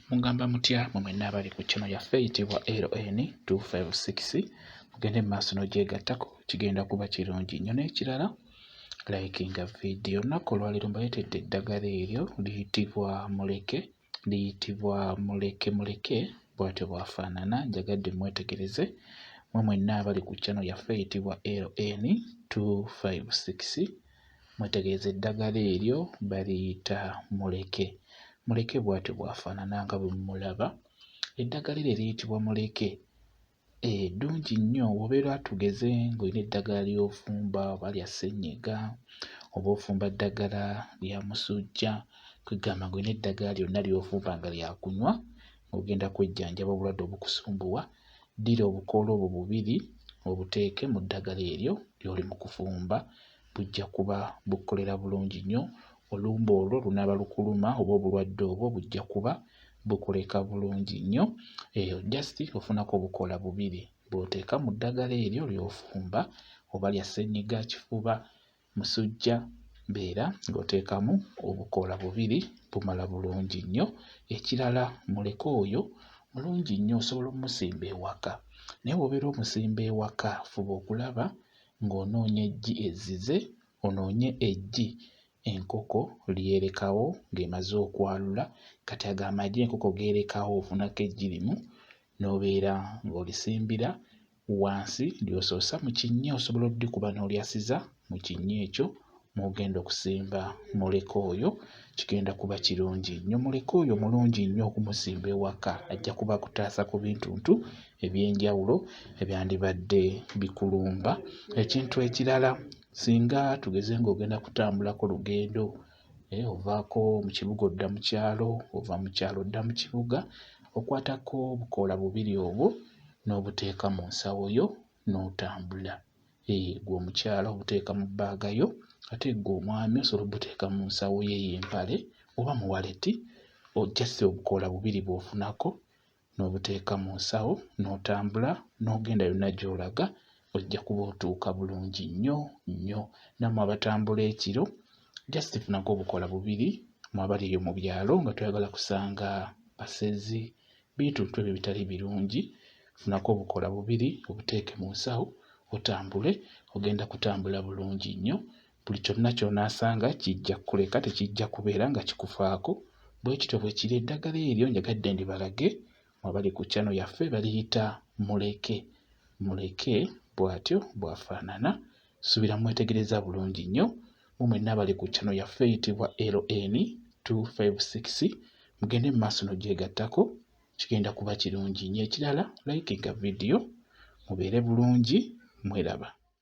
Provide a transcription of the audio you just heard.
Mungamba mutya mwe mwenna abali ku channel yaffe eyitibwa LN 256 mugende mu maaso n'ogyegattako kigenda kuba kirungi nnyo n'ekirala likinga vidiyo olunaku olwaleero mbaleetedde eddagala eryo liyitibwa muleke liyitibwa muleke muleke bwatyo bwafaanana njagadde mwetegereze mwe mwenna abali ku channel yaffe eyitibwa LN 256 Mwetegereze eddagala eryo baliyita muleke. Muleke bw'atyo bw'afaanana nga bwe mumulaba. Eddagala eryo eriyitibwa muleke eh, ddungi nnyo bw'obeera tugeze ng'olina eddagala ly'ofumba oba lya ssennyiga oba ofumba ddagala lya musujja kwegamba ng'olina eddagala lyonna ly'ofumba nga lyakunywa ng'ogenda kwejjanjaba obulwadde obukusumbuwa ddira obukoola obwo bubiri obuteeke mu ddagala eryo ly'oli mu kufumba, bujja kuba bukukolera bulungi nnyo. Olumbe olwo lunaaba lukuluma oba obulwadde obwo bujja kuba bukuleka bulungi nnyo. Eyo just ofunako obukoola bubiri bw'oteeka mu ddagala eryo ly'ofumba, oba lya ssennyiga, kifuba, Musujja beera ng'oteekamu obukoola bubiri bumala bulungi nnyo. Ekirala muleke oyo mulungi nnyo osobola omusimba ewaka naye bw'obeera omusimba ewaka fuba okulaba ng'onoonya eggi ezzize, onoonye eggi enkoko ly'erekawo ng'emaze okwalula. Kati ago amagi enkoko g'erekawo ofunako eggi limu n'obeera ng'olisimbira wansi ly'osoosa mu kinnya osobola oddikuba n'olyasiza mu kinnya ekyo mw'ogenda okusimba muleka oyo kigenda kuba kirungi nnyo. Muleka oyo mulungi nnyo okumusimba ewaka ajja kuba akutaasa ku bintuntu eby'enjawulo ebyandibadde bikulumba. Ekintu ekirala singa tugeze ng'ogenda kutambulako lugendo Eh, ovaako mu kibuga odda mu kyalo ova mu kyalo odda mu kibuga okwatako obukoola bubiri obwo n'obuteeka mu nsawo yo n'otambula eh, gwe omukyala obuteeka mu bbaaga yo ate gwe omwami osobola obuteeka mu nsawo ye y'empale oba mu waleti ojjase obukoola bubiri bw'ofunako n'obuteeka mu nsawo n'otambula n'ogenda yonna gy'olaga ojja kuba otuuka bulungi nnyo nnyo. Nammwe abatambula ekiro just funako obukola bubiri mu abali eyo mu byalo nga toyagala kusanga basezi bituntu ebyo bitali birungi funako obukola bubiri obuteeke mu nsawo otambule ogenda kutambula bulungi nnyo Buli kyonna ky'onaasanga kijja kukuleka, tekijja kubeera nga kikufaako. Bwe kityo bwe kiri, eddagala eryo njagadde ndibalage mwabali ku kyano yaffe baliyita muleke. Muleke bw'atyo bw'afaanana. Subira mwetegereza bulungi nnyo. Mu mwenna abali ku kyano yaffe eyitibwa LN 256 mugende mu maaso n'ogyegattako kigenda kuba kirungi nnyo. Ekirala likinga vidiyo mubeere bulungi mweraba.